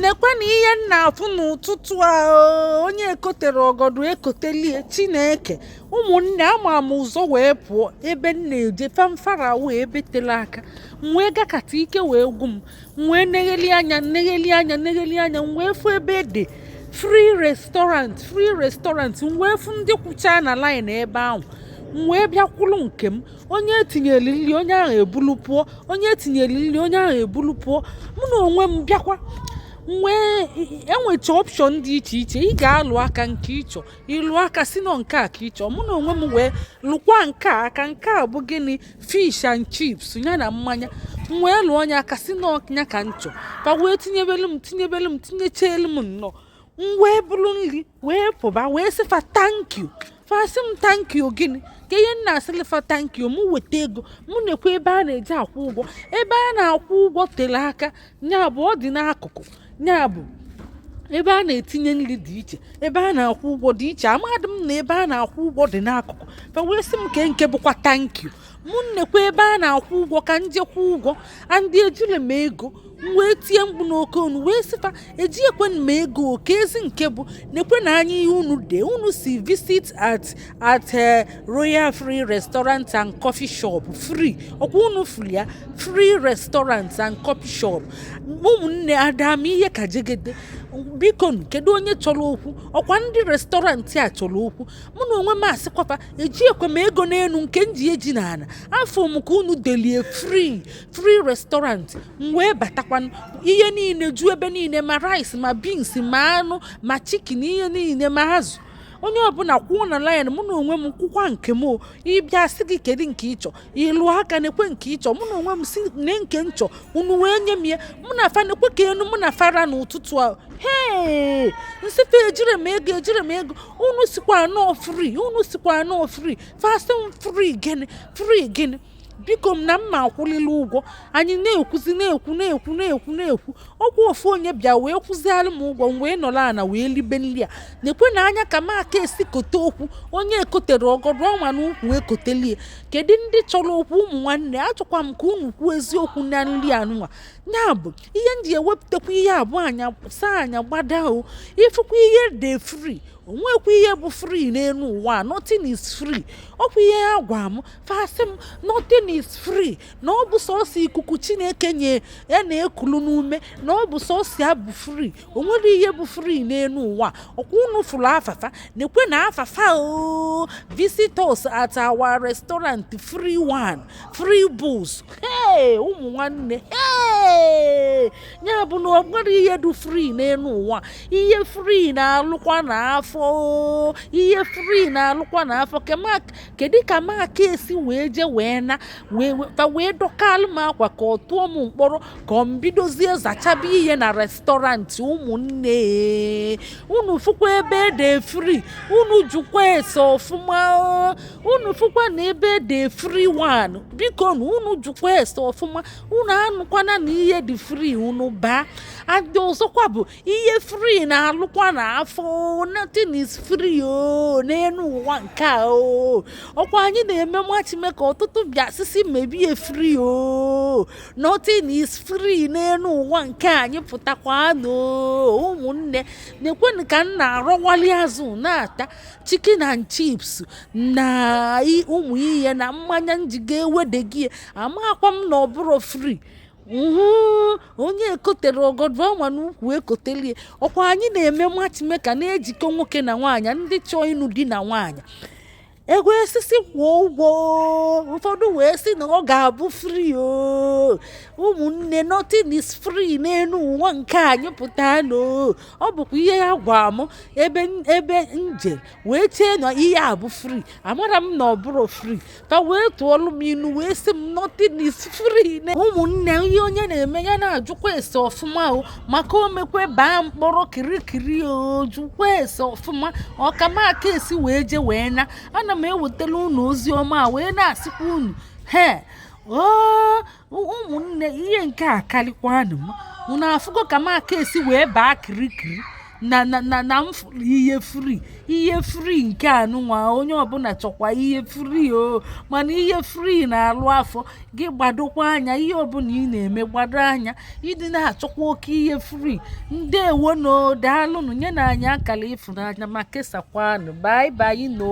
nekwenụ ihe m na-afụ n'ụtụtụ a onye ekotere ọgọdụ ekotelie chineke ụmụnne ama m ụzọ wee pụọ ebe m na-eje famfara wee ebe tele aka m wee gakata ike wee gwu m m wee negheli anya negheli anya negheli anya m wee fụ ebe e dee free restaurant free restaurant m wee fụ ndị kwụcha na line ebe ahụ m wee bịa kwụlụ nke m onye etinyere nri onye ahụ ebulu pụọ onye etinyere nri onye ahụ ebulu pụọ mụ na onwe m bịakwanụ e nwecha option dị iche iche ị ga-alụ aka nke ị chọ ị lụ aka sị na ọ nke a ka ị chọ mụ na onwe m wee lụkwa nke a aka nke a bụ gịnị fish and chips ya na mmanya m wee lụọ nya aka sị na ọ nya ka m chọ fa wee tinyebelu m tinyebelu m tinyechelu m nnọọ m wee buru nri wee pụba wee sị fa thank you fa sị m thank you gịnị kee ihe m na-asịlị fa thank you mụ weta ego mụ nekwe ebe a na-eji akwụ ụgwọ ebe a na-akwụ ụgwọ tele aka nya bụ ọ dị n'akụkụ nya bụ ebe a na-etinye nri dị iche ebe a na-akwụ ụgwọ dị iche amadị m na ebe a na-akwụ ụgwọ dị n'akụkụ fa wee sị m kee nke bụkwa thank you mụ nekwa ebe a na-akwụ ụgwọ ka m je kwụọ ụgwọ and ejile m ego m wee tie mkpu n'oke onu wee sị fa ejiekwe m ego o keezi nke bụ nekwenụ anya ihe unu dee unu sị visit at at eh, royal free restaurant and coffee shop free ọkwa unu fụrụ ya free restaurant and coffee shop ụmụnne ada m ihe ka jegede biko kedu onye chọrọ okwu ọkwa ndị restaurant a chọrọ okwu mụ na onwe m asịkwa fa ejiekwa m ego n'elu nke m ji eji na afụ m ka unu delie free free restaurant m wee batakwanụ ihe niile ju ebe niile ma rice ma beans ma anụ ma chicken ihe niile ma azụ onye ọbụla kwụọ na line mụ na onwe m kwụkwa nke m ị bịa a sị gị kedu nke ị chọ ị lụ aka nekwe nke ị chọ mụ na onwe m sị nee nke m chọ unu wee nye m ya mụ na fa nekwe ka enu mụ na fa ra n'ụtụtụ ahụ hee m sị fa ejire m ego ejire m ego unu sịkwa na ọ free unu sịkwa na ọ free fa sị m free gịnị free gịnị biko m na m ma akwụlịlị ụgwọ anyị na-ekwuzi na-ekwu na-ekwu na-ekwu na-ekwu ọkwa ofu onye bịa wee kwụzialụ m ụgwọ m wee nọrọ ana wee libe nri a nekwenụ anya ka m ka si kote okwu onye ekotere ọgọdụ ọ wa n'ukwu ekotelie kedu ndị chọrọ okwu ụmụ nwanne achọkwa m ka unu kwuo eziokwu na nri anụnwa ya bụ ihe m ji ewepụtakwa ihe a bụ anya saa anya gbada o ị fụkwa ihe e dee free o nwekwa ihe bụ free n'elu ụwa nothing is free ọkwa ihe ha gwa m fa sị m nothing is free na ọ bụ sọsọ ikuku chineke nye a na-ekulu n'ume na ọ bụ sọsọ ya bụ free o nwere ihe bụ free n'elu ụwa ọkwa unu fụrụ afafa na-ekwe na afafa oo visit us at our restaurant free wine free booze hey ụmụ nwanne hey ya bụ na o nwere ihe dị free n'elu ụwa ihe free na-alụkwa na afọ oo ihe free na-alụkwa na afọ kedu ka m aka esi wee je wee na fa wee dọkalụ m akwa ka ọ tụọ m mkpọrọ ka ọ m bidozie zachaba ihe na restaurant ụmụnne unu fụkwa ebe e de free unu jụkwa ese ọfụma unu fụkwa na ebe e de free wine bikonụ unu jụkwa ese ọfụma unu anụkwana na ihe dị free unu baa and ọzọkwa bụ ihe free na-alụkwa na afọ nothing is free o n'elu ụwa nke a o ọkwa anyị na-eme matchmaker ọtụtụ bịa sị sị mebe ya free o nothing is free n'elu ụwa nke anyị pụtakwa nọ ụmụnne nekwenụ ka m na-arọwali azụ na-ata chicken and chips na ụmụ ihe na mmanya m ji ga-ewede ya amakwa m na ọ bụrọ free onye ekotere ọgọdọ ọ ma n'ukwu ekotelie ọkwa anyị na-eme matchmaker na-ejikọ nwoke na nwaanyị ndị chọọ ịnụ di na nwaanyị e wee sị sị kwụọ ụgwọ ụfọdụ wee sị na ọ ga-abụ free o ụmụnne nothing is free n'elu ụwa nke anyị pụta nọ ọ bụkwa ihe a gwa m ebe ebe m je wee chee na ihe a bụ free amarọ m na ọ bụrọ free ka e wee tụọlụ m inu wee sị m nothing is free ụmụnne ihe onye na-eme ya na-ajụkwa ese ọfụma o maka o mekwe baa mkpọrọ kirikiri o jụkwa ese ọfụma ọ ka m aka esi wee je wee na ana m ewetalụ unu ozi ọma a wee na-asịkwa unu he oo ụmụnne ihe nke a karịkwanụ m unu afụgo ka m aka esi wee baa kirikiri na m fụrụ ihe free ihe free nke anụnwa onye ọbụla chọkwa ihe free o mana ihe free na-alụ afọ gị gbadokwa anya ihe ọbụla ị na-eme gbado anya ị dịna achọkwa oke ihe free ndewo nụ daalụnụ nyenụ anyị akara ịfụnanya ma kesakwanụ bye bye nụ